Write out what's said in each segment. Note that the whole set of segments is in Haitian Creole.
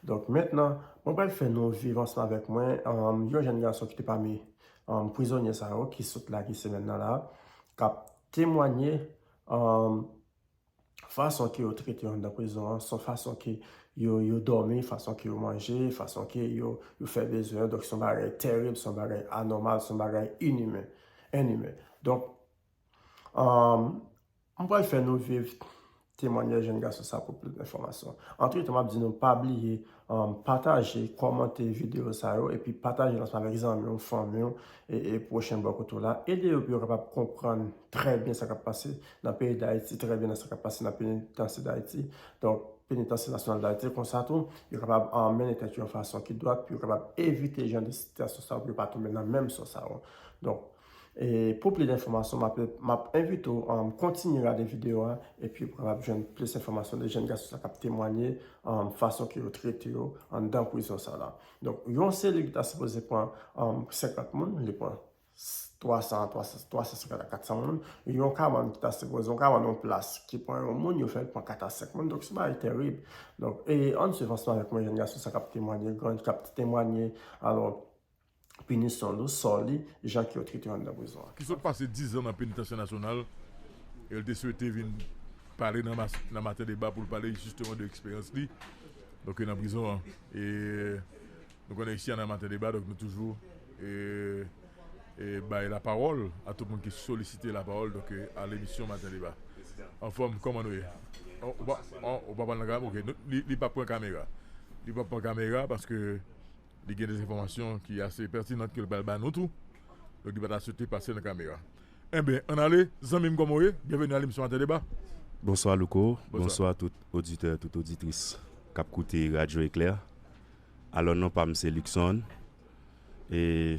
Donk mentnan, mwen pral fè nou viv ansanm avèk mwen yon jèn gason ki te pami prizonye sa yo ki sot lage semèn nan la, k ap temwanye fason ke yo trete yo anndan prizon an, sou fason ke yo dòmi, fason ke yo manje, fason ke yo fè bezwen yo. Donk se yon bagay terib, se yon bagay anòmal, se yon bagay inimen. Donk, M pral fè nou viv temwanyaj jèn gason sa pou plis enfòmasyon. Antretan m ap di nou pa bliye pataje, kòmante videyo sa yo epi pataje l ansanm avèk zanmi w, fanmi w e pwochen bò kote w la. Ede yo pou yo kapab konprann trè byen sa k ap pase nan peyi Dayiti, trè byen nan sa k ap pase nan penitansye Dayiti, donk penitansye nasyonal Dayiti. Konsa tou, yo kapab mennen tèt yo yon fason ki dwat pou yo kapab evite jan de sitiyasyon sa yo pou yo pa tonbe nan menm sò sa yo. Donk. E pou plis enfòmasyon map map envite w kontinye gade video a epi pran ap jwenn plis enfòmasyon de jèn gason sa kap temwanye fason ke yo trete yo anndan prizon sa la. Donk yon selil ki ta sipoze pran 50 moun li pran 300 350 a 400 moun, yon kabann ki ta sipoze yon kabann yon plas ki pran yon moun yo fèl pran 4 a 5 moun donk se bagay terib. Donk e ann swiv ansanm avèk mwen jèn gason sa kap temwanye gran kap temwanye alò. pinisyon l ou sò li jan ke yo trete yo anndan prizon an. ki sot pase 10 zan nan Penitansye Nasyonal e l te swete vin pale nan Maten Deba pou l pale jisteman de eksperyans li donk nan prizon an e nou konnen isi a nan Maten Deba donk nou toujou bay lapawòl a tout moun ki solisite lapawòl donk a lemisyon Maten Deba. Anfòm, kòman nou ye? Ou pa pale nan kamera? Ok, li pap pran kamera. Li pap pran kamera paske. Li gen des enfòmasyon ki ase pètinant ke li pral ba nou tou. Donk li pa ta swete pase nan kamera. Enben, ann ale, zanmi m kòman w ye? Byenveni nan lemisyon Ate Deba. Bonswa Louko, bonswa tout oditè, tout oditris k ap koute Radyo Eklè. Alò non pa m se Luckson. E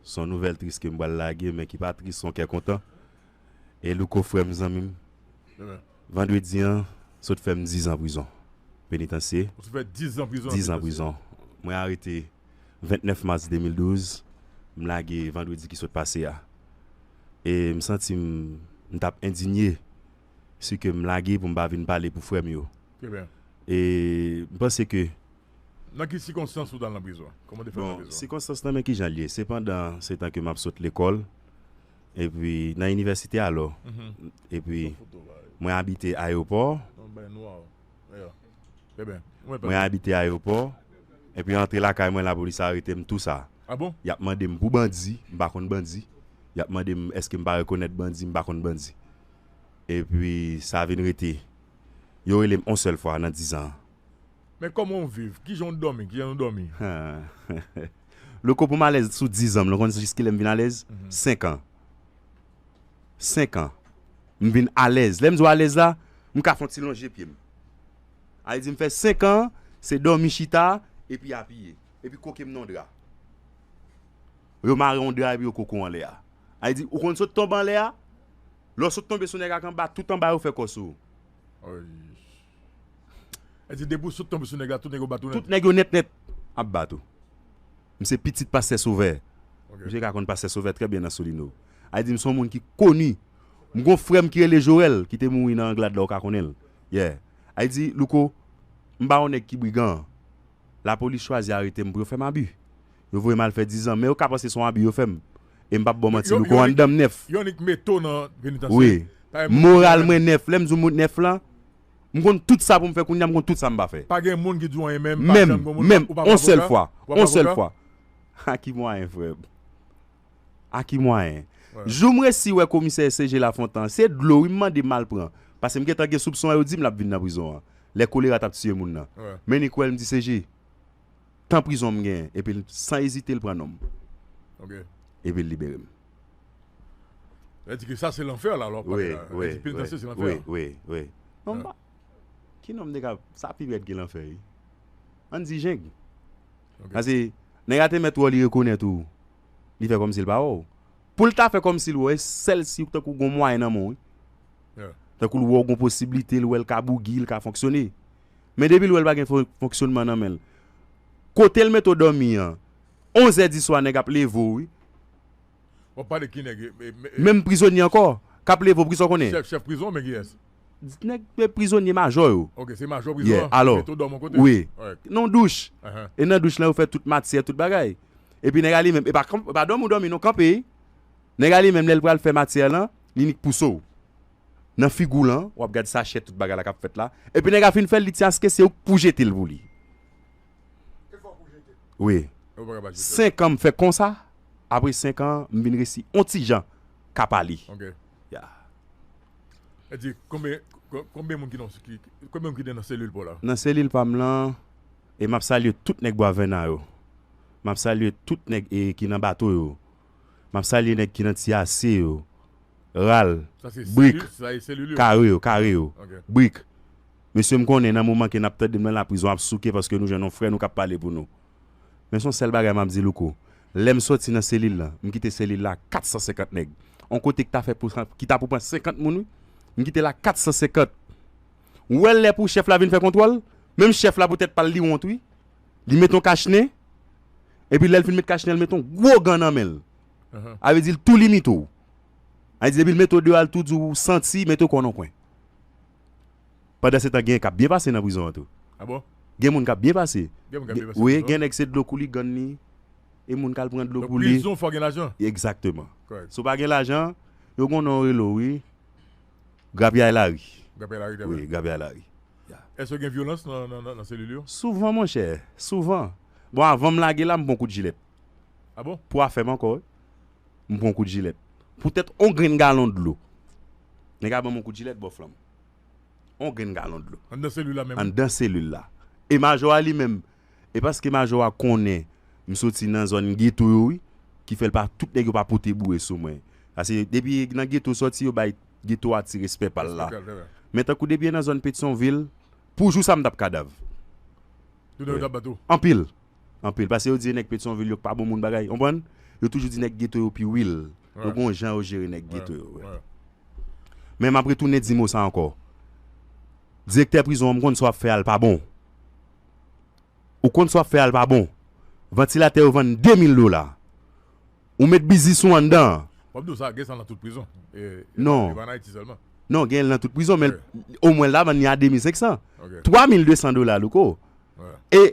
s on nouvèl tris ke m pral lage men ki pa tris s on kè kontan. E louko frèm zanmim vandredi an sot fèm 10 zan prizon penitansye 10 zan prizon mwen arete 29 mas 2012 m lage vandredi ki sot pase a e m santim m tap endinye si ke m lage poum pa vin pale pou frèm yo e m panse ke Nan ki sikonstans ou tal nan prizon? Bon sikonstans nan men kijan l ye se pandan se tan ke map sot lekòl. Epi nan inivèsite alò. Epi mwen abite ayewopò. Mwen abite ayewopò. Epi antre lakay mwen lapolis arete m tou sa. Y ap mande m pou bandi, m pa konn bandi. Y ap mande m èske m pa rekonèt bandi, m pa konn bandi. Epi sa vin rete. Yo rele m on sèl fwa nan dizan. Men koman w viv? Kijan w domi? Kijan nou domi? Louko pou m alèz sou 10 ans, ou konn jis kilè m vin alèz? 5 ans. 5 ans. M vin alèz. Lè m di w alèz la, m ka fè yon ti lonje pye m. A vle di m fè 5 ans, se domi chita, epi apiye. Epi koke m nan yon dra. Yo mare yon dra epi yo koke w anlè a. A vle di, ou konn sot tonbe anlè a, lè w sot tonbe sou nèg ak anba, tout anba yo fè kò sou ou. El di depi w sot tonbe sou nèg la tout nèg yo bat ou nèt. Tout nèg yo nèt nèt ap bat ou. M se pitit pastè Sovè. Misye ka konn pastè Sovè trè byen nan Solino. El di m son moun ki koni. M gon frè m ki rele Jorèl ki te mouri nan Anglad la ou ka konnen l. Yeah. El di Louko m pa yon nèg ki brigan. Lapolis chwazi arete m pou yo fè m abi. Yo voye m al fè dizan, men yo ka panse se yon abi yo fè m e m pa p bò manti louko anndan m nèf. Wi, moral mwen nèf. Lè m di w m nèf lan, m konn tout sa pou m fè kounye a, m konn tout sa m pa fè. Menm, menm, on sèl fwa, on sèl fwa. Ha ki mwayen frè m. A ki mwayen? Jou m resi wè komisè SG Lafontan an, se dlo wi m mande m al pran, pase m gentan gen soupson an yo di m l ap vin nan prizon an, lè kolera t ap tiye moun nan. Men li kwè l m di SG, tan prizon m genyen, epi l san ezite l pran non m, epi l libere m. Lè di ke sa se lanfè la lè w ap pale la, lè di penitansye se lanfè. Wi, wi. Non m pa, ki non m te ka, sa pi rèd ke lanfè wi. An n di jeng. Pase nèg la te mèt wè w li rekonèt ou li fè kòmsi l pa wè w. Pou l ta fè kòmsi l wè w e sèl si tankou gon mwayen nan men w wi. Tankou l wè w gon posiblite, l wè l ka bougi, l ka fonksyone. Men depi l wè l pa gen fonksyonman nan men l. Kote l mete w dòmi an, onzè diswa nèg ap leve w wi. Wap pale ki nèg? Menm prizonye ankò kap leve w pou kisa w konnen? Chèf prizon men kiyès? Dit nèg k te prizonye majò yo. Ok, se majò prizon an ki met odòm yon kote. Wi, nan yon douch. E nan douch lan yo fè tout matyè, tout bagay. Epi nèg la li menm, e pa dòmi ou dòmi non, kanpe. Nèg la li menm lè l pral fè matyè lan, li nik pouse w. Nan figi w lan, w ap gad sachè tout bagay la k ap fèt la. Epi nèg la fin fè l, li di aske se ou k pou jete l pou li. E fò w pou jete l. Wi. E ou pa ka pa jete l. Senkan m fè konsa, apre senkan m vin resi yon ti jan ka pale. Ok. Ya. Nan selil pam lan e map salye tout nèg bwa vèna yo map salye tout nèg e ki nan bato yo map salye nèg ki nan ti ase yo ral brik kare yo kare yo brik mesye m konnen nan moman ke nap tandem nan laprizon ap souke paske nou jwenn yon frè nou kap pale pou nou. Men son sèl bagay map di Louko, lèm sòti nan selil lan, m kite selil la ak 450 nèg. On kote ki ta fè pou ki ta pou pran 50 moun wi, m kite l ak 450. Ou wè lè pou chèf la vin fè kontwòl, menm chèf la pou tèt pal li wont wi. Li met on kach nen, epi lèl fin met kach nen l met on gwo gan nan menl. A vle di l tou limite w. A vle di depi l mete w deyò al tou di w ou santi, mete w kò nan kwen. Pandan se tan genyen kap byen pase nan prizon an tou gen moun kap byen pase wi gen nèg se dlo kouli gann li e moun kal pran dlo kouli egzakteman si w pa gen lajan yo gon non yo rele w wi grapyay lari wi grapyay lari souvan monchè souvan bon avan m lage la m pran w kout jilèt pou afè m ankò wi. m pran yon kout jilèt. Poutèt yon grenn galon dlo. Nèg la ban m yon kout jilèt, bò flanm. Yon grenn galon dlo. Anndan selil la menm. Anndan selil la. E majò a li menm. E paske majò a konnen m soti nan zòn geto yo wi, ki fè l pa, tout nèg yo pa pote boure sou mwen. Pase depi nan geto soti yo bay geto a ti respè pa l la. Respè pa l, se vre. Men tankou depi nan zòn Petyonvil, pou jou sa m t ap kadav. Tout nèg yo t ap bat ou. Anpil. anpil paske yo di nèg petyonvil yo pa bon moun bagay konprann yo toujou di nèg geto yo pi wil yo gon jan yo jere nèg geto yo vre men map retounen di mo sa ankò direktè prizon an m konn sa wap fè a l pa bon ou konn sa wap fè a l pa bon vantilatè yo vann 2000 dola. Ou met biznis ou anndan an. Wap di w sa, gen sa nan tout prizon. Non. E pa nan Ayiti sèlman. Non, gen l nan tout prizon men omwen la vann li a 2500. 3200 dola Louko. E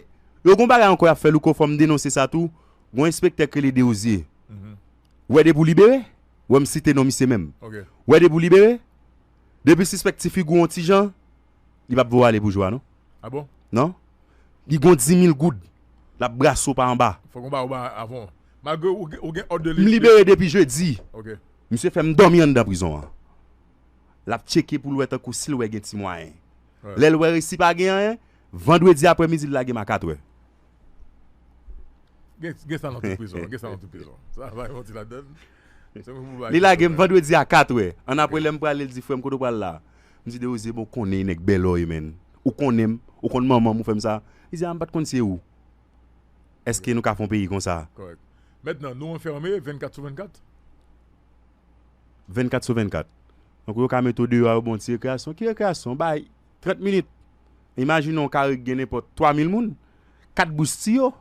yo gon bagay ankò y ap fè Louko fò m denonse sa tou, gon enspektè k rele Derozier. Ou wè depi w libere, wè m site non misye menm. Ou wè depi w libere, depi w sispèk ti figi w on ti jan. Li pap voye ale pou jwa non. Ah bon? Non. Li gon dimil goud. Lap brase w pa anba. Fok ou ba ou ba avan. Malgre ou gen òd de. M libere depi jedi. Ok. Misye fè m dòmi anndan prizon an. Lap tcheke pou l wè tankou si l wè gen ti mwayen. Lè l wè resi pa gen anyen, vandredi aprè midi l lage m a katrè. Gen sa nan tout prizon an. Gen sa nan tout prizon. Sa va yon ti ladann. Se mwen pou bay. Li lage m vandredi a 4 wè. An apre lè m prale l di frè m kote w pral la. M di Desrosier bon w konnen nèg Bèlòy menn. Ou konnen m. Ou konn manman m ou fè m sa. Li di a m pat konn se ou. Eske nou ka fè yon peyi konsa. Kòrèk. Mèt nan nou anfème 24 sou 24? 24 sou 24. Donk yo ka mete w deyò a yo ba w ti rekreyasyon. Ki rekreyasyon? Bay. 30 minit, imajine yon kare ki gen nenpòt 3 mil moun, 4 bous tiyo,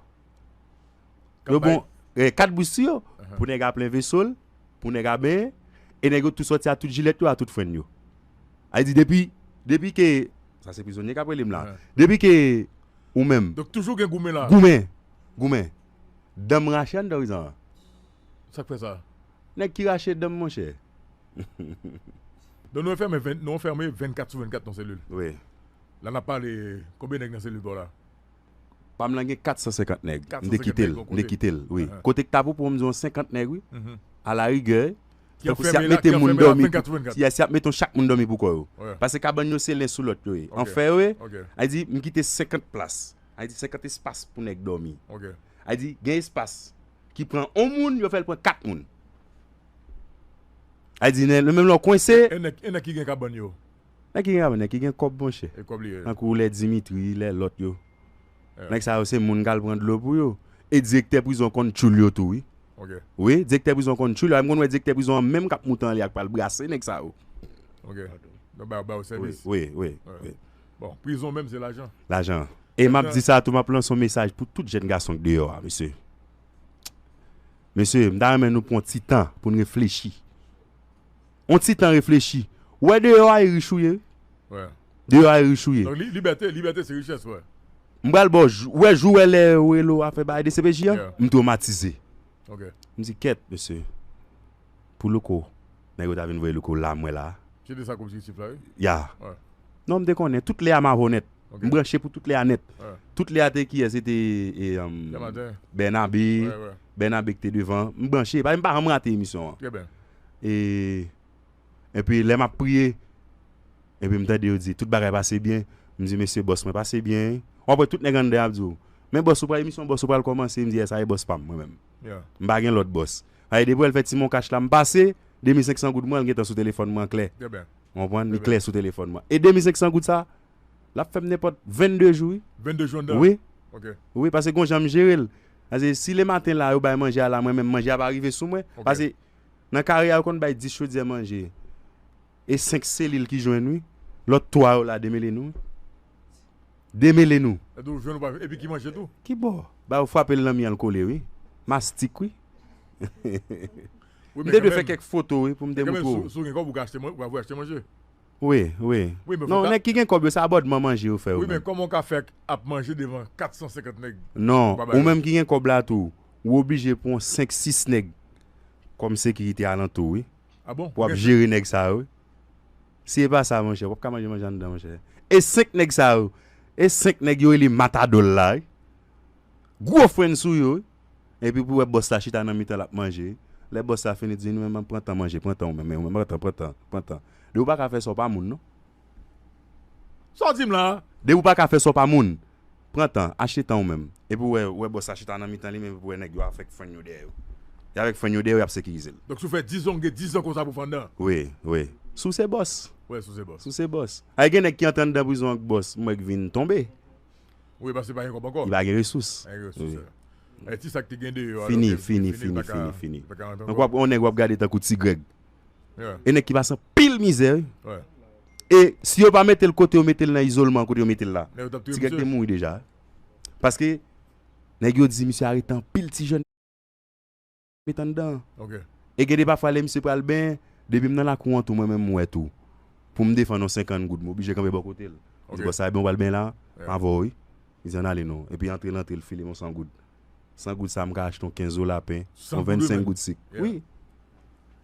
yo bon, 4 bous tiyo, pou nèg a plen veso l, pou nèg a benyen, e nèg yo tou sòti a tout jilèt yo, a tout frenn yo. Sa vle di depi, depi ke, sa se prizonye k'ap rele m la, depi ke ou menm. Donk toujou gen goumen la. Goumen, goumen. Dan m rache anndan prizon an. Sak fè sa. Nèg ki rache danm monchè. Don nou anfème nou anfème 24 sou 24 nan selil. Wi. La nap pale konbyen nèg nan selil paw la. Pam lan gen 450 nèg. M te kitel. M te kitel wi. Kote k ta pou pou m di w 50 nèg wi. A la rigè. Ki anfème la 24 sou 24. Yes y ap mete chak moun domi pou kò yo. Pase kabann yo se len sou lòt yo ye. Anfè yo ye. A di m kite 50 plas. A di 50 espas pou nèg domi. A di gen espas ki pran on moun yo fèl pran 4 moun a di nè menm lè w kwense. E nèg e nèg ki gen kabann yo? Nèg ki gen kabann nèg ki gen kòb monchè. E kòb li ye. Tankou lè Dimitri lè lòt yo. Nèg sa yo se moun kal pran dlo pou yo. E direktè prizon konn tchoul yo tou wi. Ok. Wi direktè prizon konn tchoul yo. M konn wè direktè prizon an menm kap moutan li ak pral brase nèg sa yo. Ok. Yo ba yo sèvis. Wi wi wi. Bon prizon menm se lajan. Lajan. E map di sa tou map lanse yon mesaj pou tout jèn gason k deyò a mesye. Mesye m ta renmen nou pran yon ti tan poun reflechi. Yon ti tan reflechi. Ou wè deyò a e rich ou ye wi. Wè. Deyò a e rich ou ye. Donk libète, libète se richès wè. M pral baw jou, ou wè jou wè lè yo rele w al fè bagay dcpj an? M twomatize. Ok. M di kèt mesye. Pou louko nèg yo ta vin voye louko la mwen la. Se de sa k objekitif la wi. Ya. Non m te konnen tout lè a ma vo nèt. M branche pou tout lè a nèt. Tout lè a te kiyès se te Bènabe Bènabe ki te devan m branche m pa janm rate emisyon an. Trè bèl. E epi lè m ap priye epi m tande yo di tout bagay pase byen m di mesye bòs mwen pase byen w ap wè tout nèg anndan yo ap di w men bòs ou pa emisyon bòs ou pral kòmanse m di yès sa e bòs pa m mwen menm. M pa gen lòt bòs. Sa e depi wè l fè ti monkach la m pase, 2500 goud mwen l gentan sou telefòn mwen klè. Ou konprann? Li klè sou telefòn mwen. E 2500 goud sa, l ap fè m nenpòt 22 jou wi. 22 jou anndan? Wi. Wi, pase gon jan m jere l. Pase si le maten la yo bay manje a la mwen menm manje a pa rive sou mwen. Pase nan kare a yo konn bay 10 chodyè manje. E 5 selil ki jwenn wi. Lot 3 yo la demele nou wi. Demele nou. Epi ou jwenn ou pa epi ki manje tou. Ki bo? Ba yo fwapel nan mi an l kole wi. Mastik wi. M te dwe fè kèk foto wi pou m te moutre w. Si w gen kob ou ka achte manje, ou ka voye achte manje. Wi, wi. Non nèg ki gen kob yo se abòdman manje yo fè yo menm. Wi men koman w ka fè ap manje devan 450 nèg. Non, ou menm ki gen kob la tou, ou oblije pran 5, 6 nèg kom sekirite alantou wi. Wap jere nèg sa yo wi. Si epa sa monchè wap ka manje manje anndan monchè. E 5 nèg sa yo e 5 nèg yo rele matadol la wi. Gwo fren sou yo wi. Epi pou wè bòs la chita nan mitan lap manje wi. Lè bòs la fini di nou menm pran tan manje pran tan ou menm pran tan pran tan pran tan. Depi ou paka fè sa ou pa moun non. Sa w di m la? Depi ou paka fè sa ou pa moun. Pran tan, achte tan ou menm. Epi ou wè, ou wè bòs la chita nan mitan li menm epi ou wè nèg yo avèk frenn yo dèyè yo. Y avèk frenn yo dèyè yo y ap sekirize l. Donk si w fè dizan ou gen dizan konsa pou pandan. Wi, wi. Si w se bòs. Wi, si w se bòs. Si w se bòs. Ay gen nèg ki antre anndan prizon ak bòs mwen k vin tonbe. Wi, paske li pa gen kòb ankò. Li pa gen resous. Pa gen resous. Wi. Ti sa k te gen deyò. Fini, fini, fini, fini, fini. Li pa ka rantre ankò. Donk w ap gen yon nèg w ap gade tankou Ti Grèg. E nèg ki pase anpil mizè wi. E si yo pa mete l kote yo mete l nan izolman an kote yo mete l la, ti Grèg te mouri deja. Paske nèg yo di misye arete anpil ti jèn met anndan an. E gen de pafwa lè misye pral benyen, depi m nan lakou an tou mwen menm m wè tou, pou m defann yon senkann goud m oblije kanpe bò kote l. M di bòs sa ebyen w pral benyen la? M avè w wi. Li di an n ale non. Epi antre l antre l file m yon san goud. 100 goud sa m ka achte yon 15 zo lapen, yon 25 goud sik. Wi.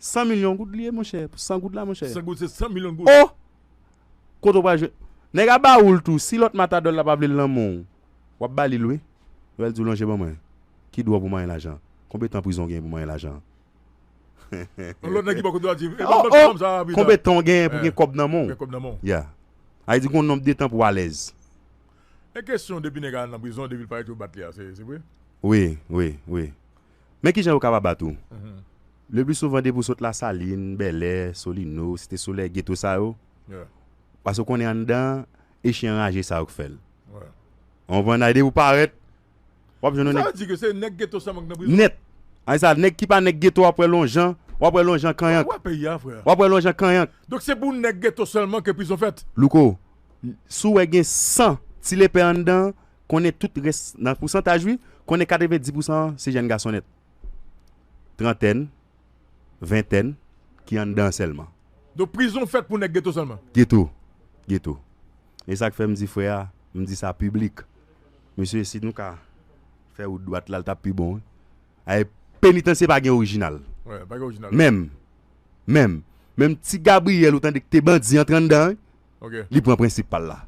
100 milyon goud li ye monchè, pou 100 goud la monchè. 100 goud se 100 milyon goud. Oh! Kote ou pral jwenn. Nèg a ba ou l tou. Si lòt matadò la pa vle l nan men w, w ap ba li l wi. Ou pral di w lonje ban mwen. Ki dwòp ou manyen lajan? Konbe tan prizon w genyen pou manyen lajan? Yon lòt nèg ki bò kote w la di, e ban m lòt fanm sa a pita. Konbe tan w genyen pou gen kòb nan men w? Ya. Sa vle di gen yon nonb de tan pou w alèz. E kesyon depi nèg a nan prizon depil parèt yo bat li a se vre? Wi wi wi men kijan yo ka pa bat ou le pli souvan depi ou sot lasalin, bèlè, solino, site solèy geto sa yo pase ou konnen anndan e chyen anraje sa yo k fèl ou konprann depi ou parèt Wap jwenn yon nèg. Sa vle di ke se nèg geto sèlman ki nan prizon. Nèt. Ay sa nèg ki pa nèg geto wap wè lonjan, wap wè lonjan kanyank. Ou wè peyi a frè. Wap wè lonjan kanyank. Donk se pou nèg geto sèlman ke prizon fèt. Louko, si w wè gen 100 ti lepè anndan an, konnen tout rès nan pousantaj wi, konnen 90 pousan an se jèn gason nèt. Trantèn, ventèn ki anndan sèlman. Donk prizon fèt pou nèg geto sèlman. Geto. Geto. E sak fè m di frè a, m di sa piblik. Mesye si nou ka fè wout dwat la li tap pi bon wi. Ayy penitansye pa gen orijinal menm menm menm ti Gabriel ou tande ki te bandi antre anndan wi li pran prensip pal la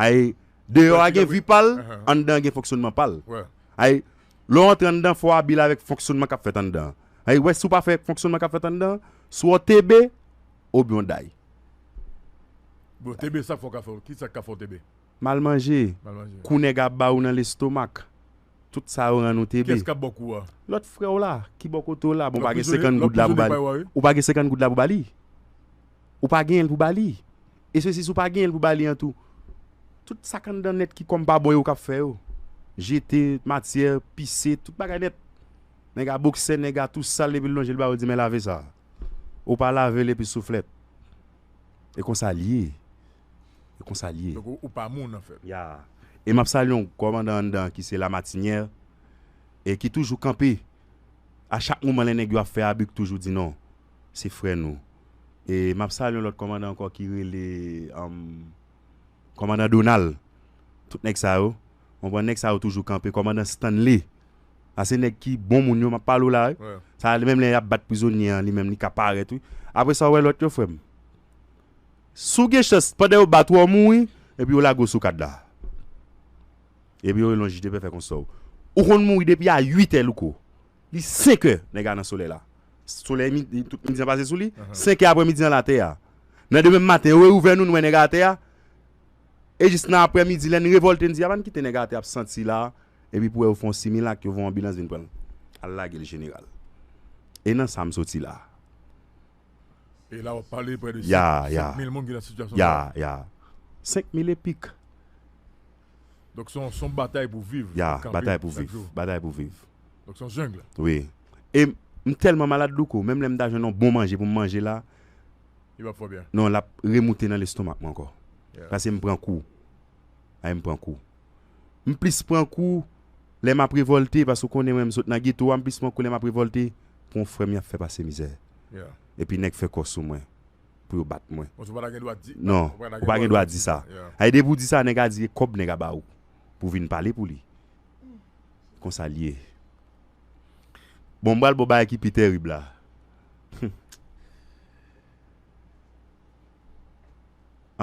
ayy deyò a gen vi pal anndan an gen fonksyonman pal ayy lè w antre anndan fò w abil avèk fonksyonman kap fèt anndan an ayy wè si w pa fè fonksyonman kap fèt anndan an swa w TB obyen w day. Bon TB sa fò w ka fè w kisa k ka fè w TB. Mal manje, kou nèg ap ba ou nan lestomak, tout sa yo rann ou tebe. Lòt frè w la, ki bò kote w la, bon ou pa gen senkant goud la pou ba li. Ou pa gen senkant goud la pou ba li. Ou pa genyen l pou ba li. E se si si w pa genyen l pou ba li an tou, tout sa k anndan nèt ki kòm pa bon yo k ap fè yo. Jete, matyè, pise, tout bagay nèt. Nèg a boksè, nèg a tou sal epi l lonje l ba ou l di men lave sa. Ou pa lave l epi souflèt. E konsa l ye. E konsa l ye. Donk ou pa moun anfèt. Ya. E m ap salye yon kòmandan anndan an ki se Lamatinyè e ki toujou kanpe a chak moman lè nèg yo ap fè abi k toujou di non. Se frè nou. E m ap salye yon lòt kòmandan ankò ki rele kòmandan Donal. Tout nèg sa yo. Konprann? Nèg sa yo toujou kanpe. Kòmandan Stanley. Sa se nèg ki bon moun yo m ap pale w la wi. Sa menm lè y ap bat prizonye an li menm li ka parèt wi. Apre sa ou wè lòt yo frè m. Si w gen chans pandan yo bat ou an mouri epi yo lage w sou kad la. Epi yo rele yon jij de pè fè konsta w. Ou konn mouri depi a 8 è louko. Li 5 è nèg la nan solèy la. Solèy midi tout midi an pase sou li, 5 è aprè midi an l atè a. Nan demen maten yo reouvè nou nou wè nèg la atè a. E jis nan aprè midi lè n revòlte n di a pa n kite nèg la atè a ap santi la epi pou wè yo fè yon similak yo voye yon anbilans vin pran l al lage l jeneral. E nan sa m soti la. Ya, ya, ya, ya. Senk mil e pik. Ya, batay pou viv, batay pou viv. Wi. E m tèlman malad louko, menm lè m ta jwenn yon bon manje pou m manje la, non l ap remoute nan lestomak mwen ankò. Pase m pran kou. Ay m pran kou. M plis pran kou lè m ap revòlte paske ou konnen mwen m sot nan geto a m plis pran kou lè m ap revòlte pou yon frè m y ap fè pase mizè epi nèg fè kò sou mwen pou yo bat mwen non ou pa gen dwa di sa e depi ou di sa nèg a di e kòb nèg a ba ou pou w vin pale pou li se konsa l ye bon m pral ba w bagay ki pi tèrib la humm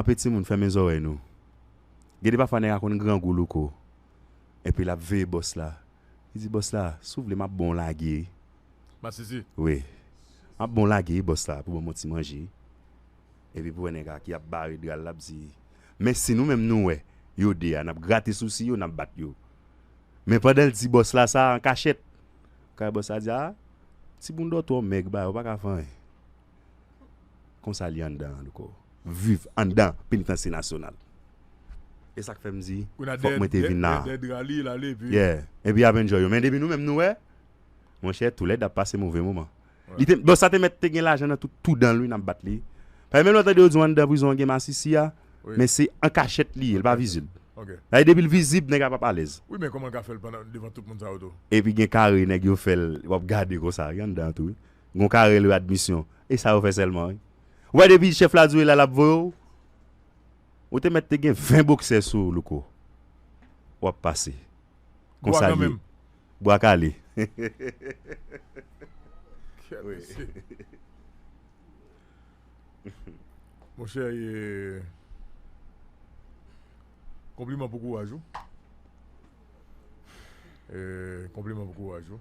anpe timoun fèmen zòrèy nou. Gede pafwa nèg a konn grangou louko epi lap veye bòs la li di bòs la si w vle map bon w lage wi Masisi wi map bon w lage wi bòs la pou banm yon ti manje wi epi pou wè nèg a ki ap bare dral lap di men si nou menm nou wè yo 2 a nap grate sousi yo nap bat yo men pandan l di bòs la sa ankachèt kay bòs la di a ti boun dòtwè w mèg bay ou paka fè anyen. Konsa li anndan an lko. Viv anndan penitansye nasyonal. E sak fèm di fòk mwen te vin la. Konsa dèyè dra li lale epi. Yeah epi ap enjoy yo men depi nou menm nou wè monchè toulède ap pase move moman. Li te bon sa te mèt te gen lajan nan tout tou danl wi nap bat li. Paske menm lè w tande yo di w anndan prizon an gen masisi a men se an kachèt li ye li pa vizib. Dayè depi l vizib nèg la pap alèz. Wi men kòman l ka fèl pandan devan tout moun sa yo tou. Epi gen kare nèg yo fèl wap gade konsa wi anndan an tou wi. Gon ka relew admisyon. E sa yo fè sèlman wi. Ou wè depi chèf la diw e la lap voye w. Ou te mèt te gen 20 boksè sou ou Louko. Wap pase. Konsa l ye. Bwa kale. Monchè e Konpliman pou kouraj ou. E Konpliman pou kouraj ou.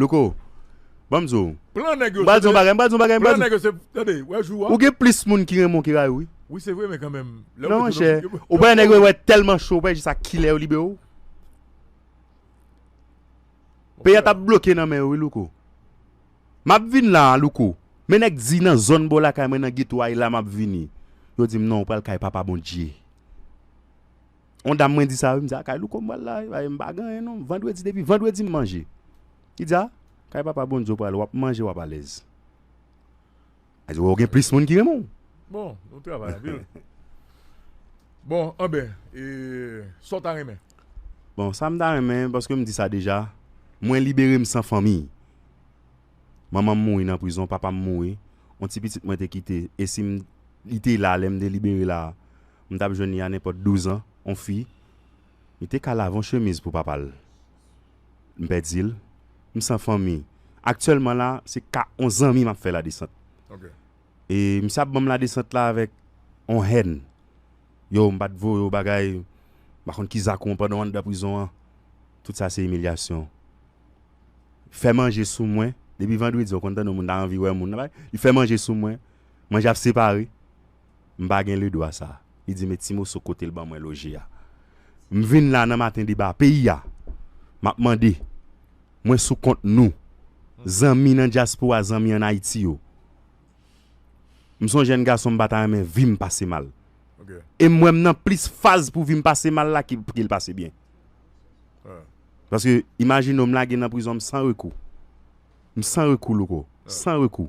Louko, ban m di w, Plan nèg m yo pral di w yon bagay, m pral di w yon bagay, m pral di w, Plan nèg yo se, tande, wè jou a, Ou gen plis moun ki renmen w ki rayi w wi. Wi se vre men kanmenm, lè w Non mete monchè, yon, ou bay nèg yo wè tèlman cho, ou bay jis a kilè yo libere w. Peyi a t ap bloke nan men yo wi Louko. M ap vin la a Louko, men nèk di nan zòn bò lakay mwen nan geto a e la m ap vini. Yo di m non ou pral kay papa Bondye. On dam mwen di sa wi, m di a kay louko m pral la wi, paske m pa gen anyen non, vandredi depi vandredi m manje. Li di a, kay papa Bondye w pral wap manje wap alèz. Li di wè ou gen plis moun ki renmen w. Bon, nou travay anpil. Bon, anben, e sa w ta renmen? Bon, sa m ta renmen, paske m di sa deja, mwen libere m san fanmi. Manman m mouri nan prizon, papa m mouri, on ti pitit mwen te kite, e si m li te la lè m te libere la. M tap jwenn li a nenpòt 12 an on fi li te ka lave on chemiz pou papa l m pèdi l m san fanmi aktyèlman la se ka on zanmi map fè ladesant e misye ap banm ladesant la avèk on hèn yow m pat voye w bagay m pa konn ki zak ou pandan w anndan prizon an tout sa se imilyasyon fè manje sou mwen depi vandredi ou konn tande w moun ta anvi wè moun li fè manje sou mwen manje ap separe M pa gen ledwa sa. Li di men ti moso kote l ban mwen loje a. M vin la nan maten deba peyi a. M ap mande. Mwen sou kont nou. Zanmi nan dyaspora zanmi an Ayiti yo. M son jèn gason m pa ta renmen vi m pase mal. E m wè m nan plis faz pou vi m pase mal la ke pou l pase byen. Paske imajine w m lage nan prizon m san rekou. M san rekou Louko. San rekou.